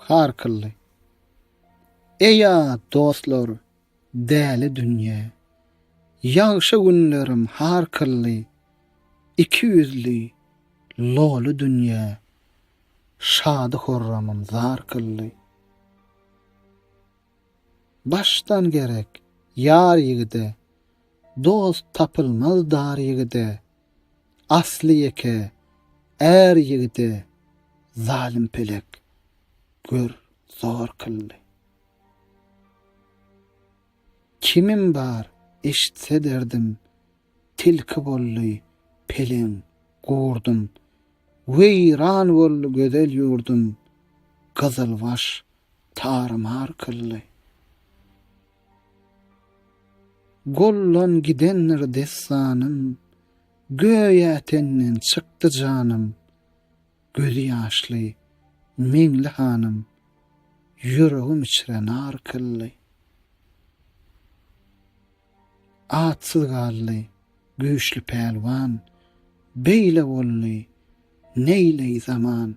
Harkylly. Eýa dostlar, däli dünýä. Ýagşy günlerim harkylly. Iki ýüzli, loly dünýä. Şady-horramym zar kylly. Başdan gerek ýar ýigide, dost tapylmaz dar ýigide. Asly ýeke är ýigide zalym pelek, gör, zor kyldy. Kimim bar, eşitse derdim, tilki boldy peleň, gurdum. Weýran boldy gözel ýurdum, gyzylbaş Tar-mar kyldy. Gollan gidendir dessanym, Göýä tenden çykdy janym, Gözi ýaşly Meňli hanym, Ýüregim içre nar kyldy. Atsyz galdy güýçli pälwan, Beýle boldy neýleý zaman.